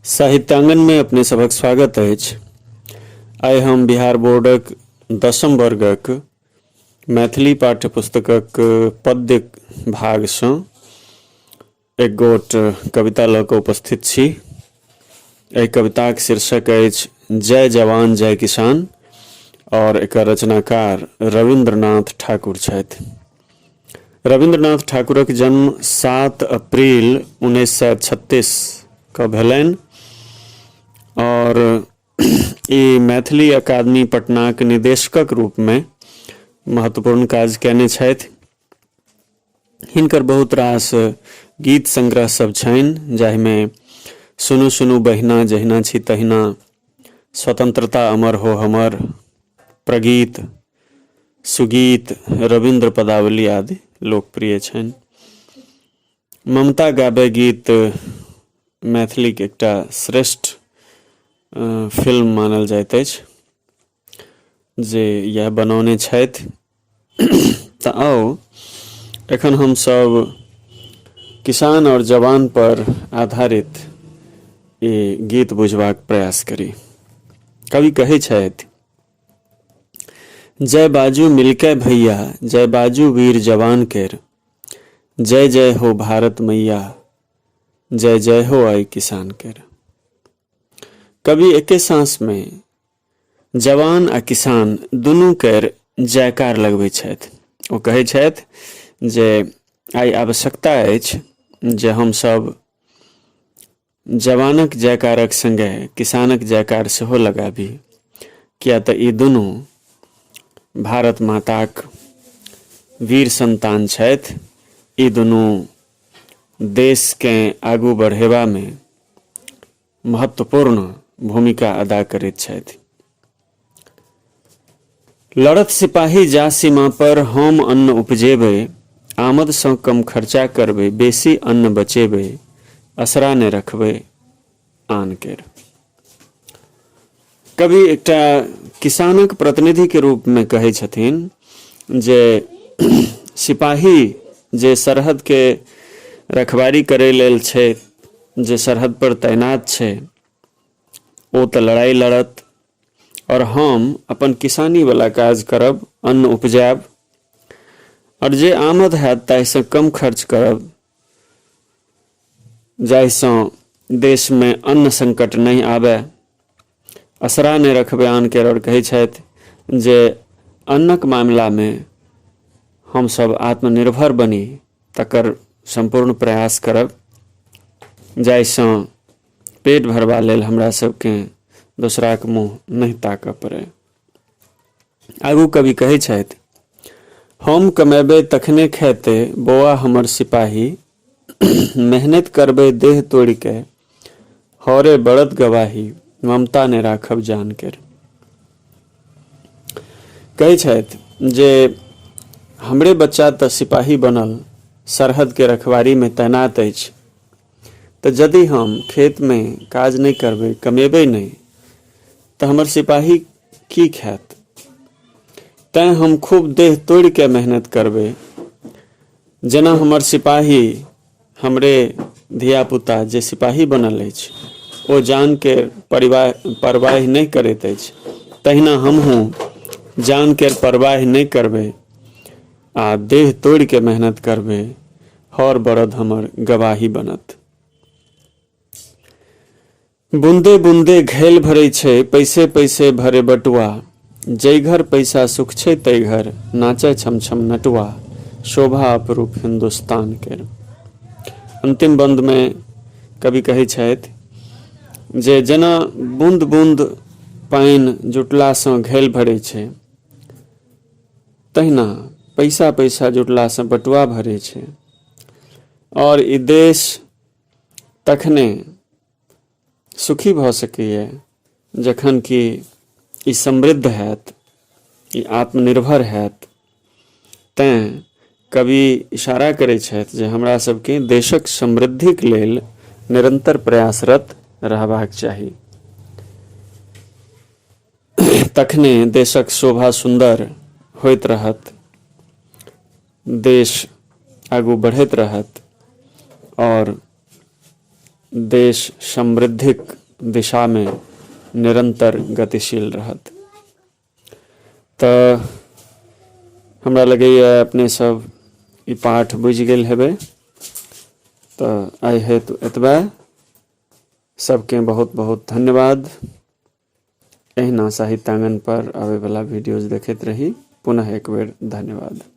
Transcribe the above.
साहित्यांगन में अपने सबक स्वागत है आइ हम बिहार बोर्डक दसम वर्गक मैथिली पाठ्य पुस्तकक पद्य भागसँ एक गोट कविता लऽ कऽ उपस्थित छी एहि कविताक शीर्षक अछि जय जवान जय किसान आओर एकर रचनाकार रविन्द्रनाथ ठाकुर छथि रविन्द्रनाथ ठाकुरक जन्म सात अप्रैल उन्नैस सए छत्तीस के भेलनि आओर ई मैथिली अकादमी पटनाक निदेशकक रूपमे महत्वपूर्ण काज कयने छथि हिनकर बहुत रास गीत संग्रह सब छनि जाहिमे सुनू सुनू बहिना जहिना छी तहिना स्वतंत्रता अमर हो हमर प्रगीत सुगीत रविन्द्र पदावली आदि लोकप्रिय छनि ममता गाबे गीत मैथिलीक एकटा श्रेष्ठ फिल्म मानल जाइत अछि जे इएह बनौने छथि तऽ आउ एखन हमसभ किसान आओर जवान पर आधारित ई गीत बुझबाक प्रयास करी कवि कहै छथि जय बाजू मिलके भैया जय बाजू वीर जवान केर जय जय हो भारत मैया जय जय हो आई किसान केर कवि एके सांस में जवान आ किसान दुनू केर जयकार लगबैत छथि ओ कहैत छथि जे आइ आवश्यकता अछि जे हमसभ जवानक जयकारक संगे किसानक जयकार सेहो लगाबी किया तऽ ई दुनू भारत माताक वीर संतान छथि ई दुनू देशकेँ आगू बढ़ेबामे महत्वपूर्ण भूमिका अदा करैत छथि लड़त सिपाही जा सीमा पर हम अन्न उपजेबै आमदसँ कम खर्चा करबै बेसी अन्न बचेबै असरा नहि रखबै आन केर कवि एकटा किसानक प्रतिनिधि के रूप में कहे छथिन जे सिपाही जे सरहद के रखवारी करे लेल छै जे सरहद पर तैनात छै ओ तऽ लड़ाई लड़त और हम अपन किसानी वाला काज करब अन्न उपजायब और जे आमद हैत ताहिसँ कम खर्च करब जाहिसँ देशमे अन्न संकट नहि आबय असरा नहि रखबै आन केर आओर कहै छथि जे अन्नक मामिलामे हमसभ आत्मनिर्भर बनी तकर सम्पूर्ण प्रयास करब जाहिसँ पेट भरबा लेल हमरा सभकेँ दोसराक मुँह नहि ताकय पड़य आगू कवि कहै छथि हम कमेबै तखने खेते बौआ हमर सिपाही मेहनत करबै देह तोड़ि के हौरे बड़द गवाही ममता ने राखब जान के कहै छथि जे हमरे बच्चा तऽ सिपाही बनल सरहदके रखवारीमे तैनात अछि तऽ यदि हम खेतमे काज नहि करबै कमेबै नहि तऽ हमर सिपाही की खायत तैँ हम खूब देह तोड़ि कऽ मेहनत करबै जेना हमर सिपाही हमरे धियापुता जे सिपाही बनल अछि ओ जानके परिवाह परवाह नहि करैत अछि तहिना हमहूँ जानके परवाह नहि करबै आ देह तोड़ि के मेहनत करबे हर बरद हमर गवाही बनत बूंदे बूंदे घैल भरै छै पैसे पैसे भरे बटुआ जै घर पैसा सुख छै तै घर नाचै छम छम नटुआ शोभा अपरूप हिंदुस्तान के अंतिम बंद में कवि कहै छथि जे जेना बूंद बूंद पानि जुटलासँ घैल भरै छै तहिना पैसा पैसा जुटलासँ बटुआ भरे छै आओर ई देश तखने सुखी भऽ सकैए जखन कि ई समृद्ध हैत ई आत्मनिर्भर हैत तैँ कवि इशारा करै छथि जे हमरा सबके देशक समृद्धिक लेल निरंतर प्रयासरत रहबाक चाही तखने देशक शोभा सुन्दर होइत रहत देश आगू बढ़ैत रहत और देश समृद्धिक दिशा में निरंतर गतिशील रहत तऽ हमरा लगैए अपने सब ई पाठ बुझि गेल हेबै तऽ आइ हेतु एतबे सबके बहुत बहुत धन्यवाद एहिना साहित्यांगन पर आबयवला वीडियोज देखैत रही पुनः एकबेर धन्यवाद